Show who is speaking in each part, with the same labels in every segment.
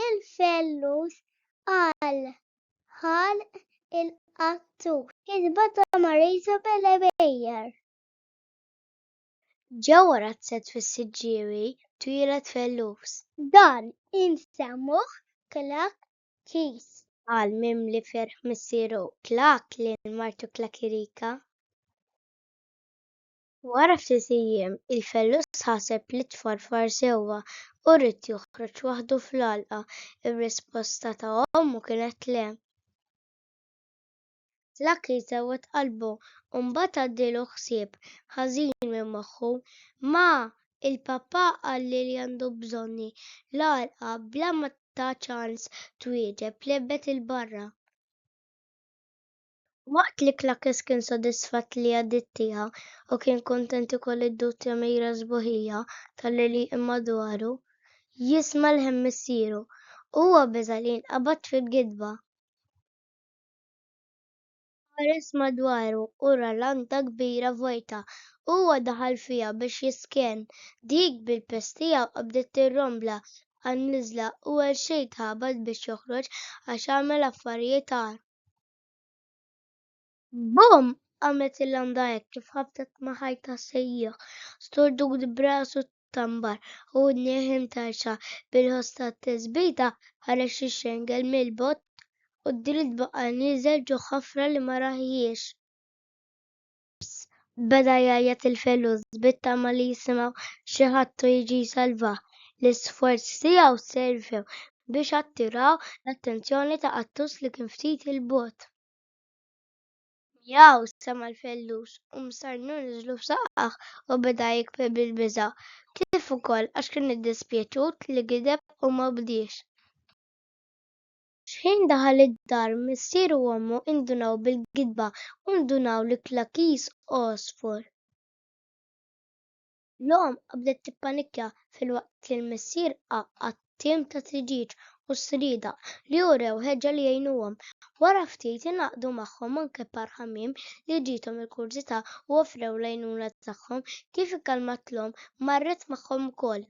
Speaker 1: Il-fellus għal ħalq il-qattur. Kitba ta' Marisa Belebejer. Ġewwa razzett fis-Siġġiewi twieled fellus. Dan insemmuh Klak Kis. Qal mimli ferħ missieru Klak lil martu Klakirika. Wara ftit ijiem, il-fellus ħaseb li tfarfar sewwa u ried joħroġ waħdu fl-għalqa. Ir-risposta ta' ommu kienet le. Lucky sewwet qalbu u mbagħad għaddielu ħsieb ħażin minn moħħu, Ma! Il-papà qalli li għandu bżonni. L-għalqa, bla ma titha ċans twieġeb, lebbet 'il barra. Waqt li Klakes kien sodisfatt li għaddiet tiegħu u kien kuntent ikoll id-dutja mira sbuħija tal-għelieq imma dwaru, jisma' lħen missieru, huwa beża' li jinqabad fil-gidba. Ħares madwaru u ra landa kbira vojta. Huwa daħal fiha biex jisken. Dik bil-piż tiegħu qabdet tirrombla għan-niżla u għal xejn tħabat biex joħroġ għax għamel affarijiet agħar. Bum! qamet il-landa hekk kif ħabtet ma' ħajta sejjieħ, sturdut b'rasu tambar u udnih imtarxa bil-ħoss tat-tisbita, ħareġ ix-xengel mill-bott u d-dritt baqa' nieżel ġo ħafra li ma rahiex. Ġems beda jgħajjat il-felus bit-tama li jisimgħu xi ħadd u jiġi jsalvah. L-isforzi tiegħu servew biex attiraw l-attenzjoni ta' qattus li kien ftit 'il bogħod. Mjaw! sema' l-fellus u msarrnu niżlu f'saqqah u beda jikbi bil-biża', kif ukoll għax kien iddispjaċut li gideb u ma bdiex. X'ħin daħal id-dar, missieru u ommu indunaw bil-gidba u ndunaw li kla kiż għosfur. L-omm bdiet tippanikkja filwaqt li l-missier għaqqad tim ta' triġieġ u sriedaq li urew ħeġġa li jgħinuhom. Wara ftit ingħaqdu magħhom anke par ħamiem li ġiethom il-kurżità u offrew l-għajnuna tagħhom. Kif ikkalmat l-omm, marret magħhom ukoll.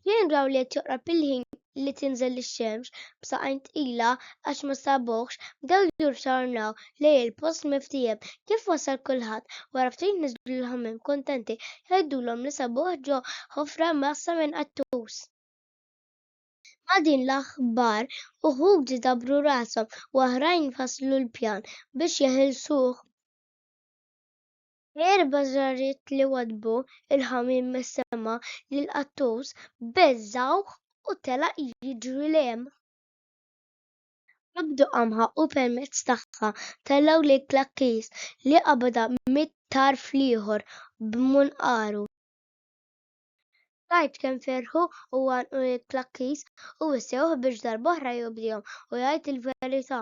Speaker 1: X'ħin raw li qed joqrob il-ħin li tinżel ix-xemx b'saqajn tqila għax ma sabuhx, bdew jirrtornaw lejn il-post miftiehem. Kif wasal kulħadd, wara ftit niżlu l-ħamiem kuntenti jgħidulhom li sabuh ġo ħofra mgħassa minn qattus. Ma' din l-aħbar, uħud idabbru rashom u oħrajn ifasslu l-pjan biex jeħilsuh. Erba' żarriet li waddbu l-ħamiem mis-sema lill-qattus beżżgħuh u telaq jiġri lejn hemm. Qabdu qamħa u permezz tagħha tellgħu lil Klakkis li qabadha mit-tarf l-ieħor b'munqaru. Tgħid kemm ferħu u għannqu lil Klakkis u wissewh biex darb'oħra jobdihom u jgħid il-verità.